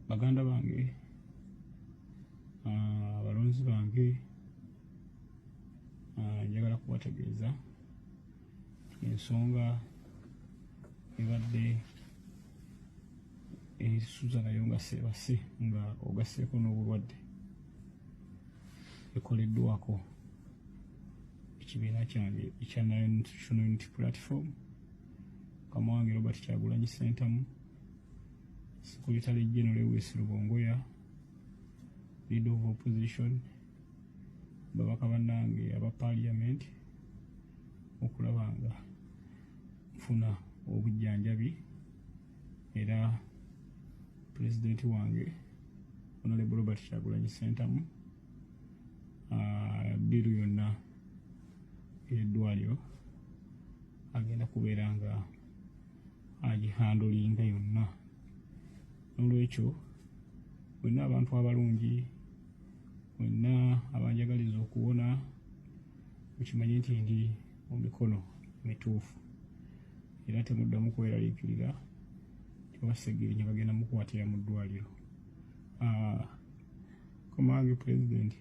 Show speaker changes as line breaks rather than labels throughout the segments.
baganda bange ah, abalonzi bange ah, njagala kubategeeza ensonga ebadde esuza nayo nga sebase nga ogaseeko n'obulwadde ekoleddwako ekibiina kyange ekya national unity platform kamuwange robert kyagulanyi sentamu Secretary General Lewis Lubongoya, Leader of Opposition, babaka bannange aba parliament okulaba nga nfuna obujjanjabi era pulezidenti wange honorable robert kyagulanyi sentamu ah, biru yonna eddwaliro agenda kubeera nga agihandulinga yonna nolwekyo wenna abantu abalungi wenna abanjagaliza okuwona mukimanye nti ndi mu mikono mituufu era temuddamu kweraliikirira tebasegenya bagenda mukwatira mu ddwaliro ah, komange pulezidenti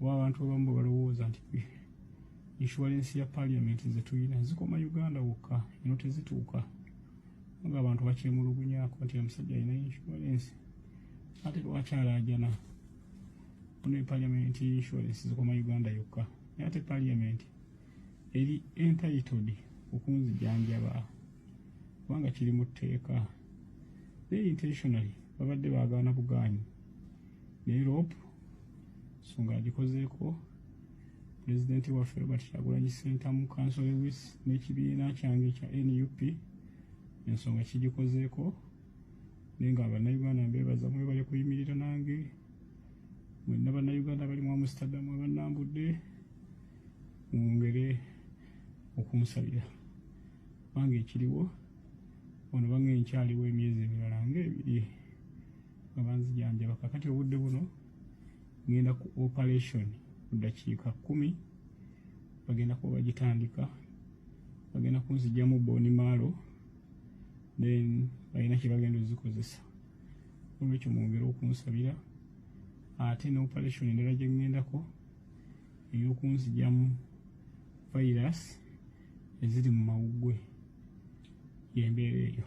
oba abantu abamu bwe balowooza nti inshuwalensi ya paliamenti ze tulina zikoma uganda wokka eno tezituuka nga abantu bakyemulugunyako nti omusajja alina inshuwalensi ate lwaki alaajana ono epaliamenti inshuwalensi zikoma uganda yokka naye ate paliamenti eri entitled okunzijanjaba kubanga kiri mu tteeka naye intentionally babadde bagaana bugaanyi naye rope so ng'agikozeeko pulezidenti waffe robert kyagulanyi sentamu kanso lewis n'ekibiina kyange ekya nup ensonga kigikozeeko naye nga bannayuganda mbeebaza mwebale kuyimirira nange mwenna bannayuganda bali mu amsterdam abannambudde mwongere okunsabira kubanga ekiriwo ono bange nkyaliwo emyezi emirala nga ebiri nga banzijanjaba kakati obudde buno ngenda ku operation ku ddakiika kkumi bagenda kuba bagitandika bagenda kunzijamu boni maalo then balina kyebagenda ozikozesa olwekyo mwongere okunsabira ate ne operation endala gye ŋŋendako ey'okunzijamu virus eziri mu mawuggwe y'embeera eyo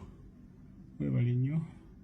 webale nnyo